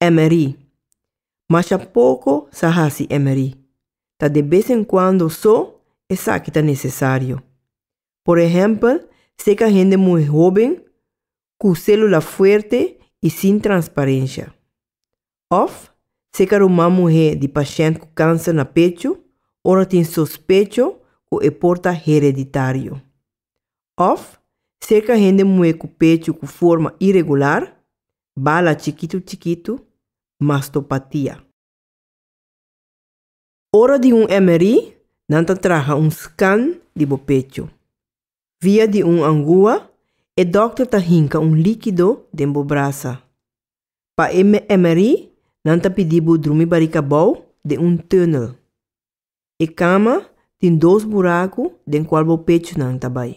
Emery. Masha poko sa hasi emery. Ta de bes en kuando so esaki ta nesesario. Por ehèmpel seka hende muy hóben ku sélula fuerte i sin transparensha. Òf seka ruman muhé di pashènt ku kánser na pechu ora tin sospecho ku e por ta hereditario. Òf serka hende muhé ku pechu ku forma iregular, bala chikitu chikitu, mastopatia. Ora di un MRI nan ta traha un scan di bo pechu. Via di un angua e dòkter ta hinka un líkido den bo brasa. Pa e MRI nan ta pidi bo drumi barika abou den un tunnel. E kama tin dos buraku den kual bo pechunan ta bai.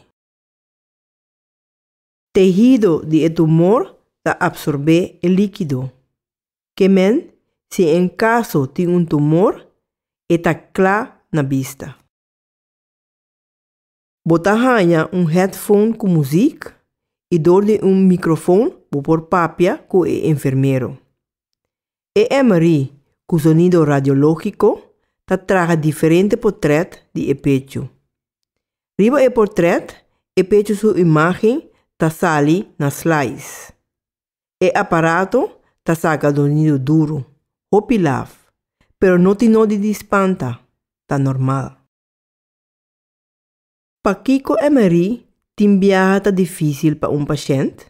Tehido di e tumor ta apsorbé e líkido. Ke men si en kaso tin un tumor e ta kla na bista. Bo ta haña un headphone ku muzik i dor di un mikrofon bo por papia ku e enfermero. E MRI ku sonido radiológiko ta traha diferente portrèt di e pechu. Riba e portrèt e pechu su imágen ta sali na slides. E aparato ta saka sonido duru, hopi laf, pero no tin nodi di spanta, ta normal. Pakiko Emery tin biaha ta difísil pa un pashent?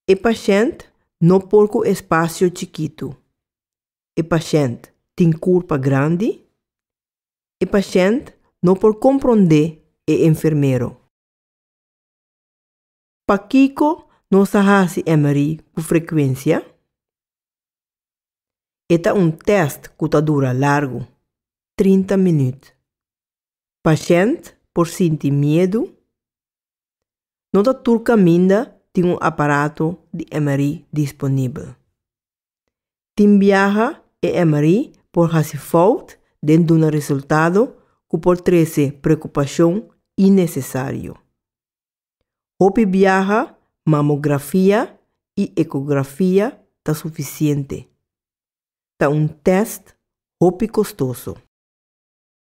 E pashent no por ku espasio chikitu. E pashent tin kurpa grandi. E pashent no por komprondé e enfermero. Pakiko nos a hasi MRI ku frekuensia? E ta un tèst ku ta dura largu, trinta minüt. Pashent por sinti miedu? No ta tur kaminda tin un aparato di MRI disponibel. Tin biaha e MRI por hasi fout den duna resultado ku por trese preokupashon innesesario. Hopi biaha mamografia y ecografia ta suficiente. Ta un test hopi costoso.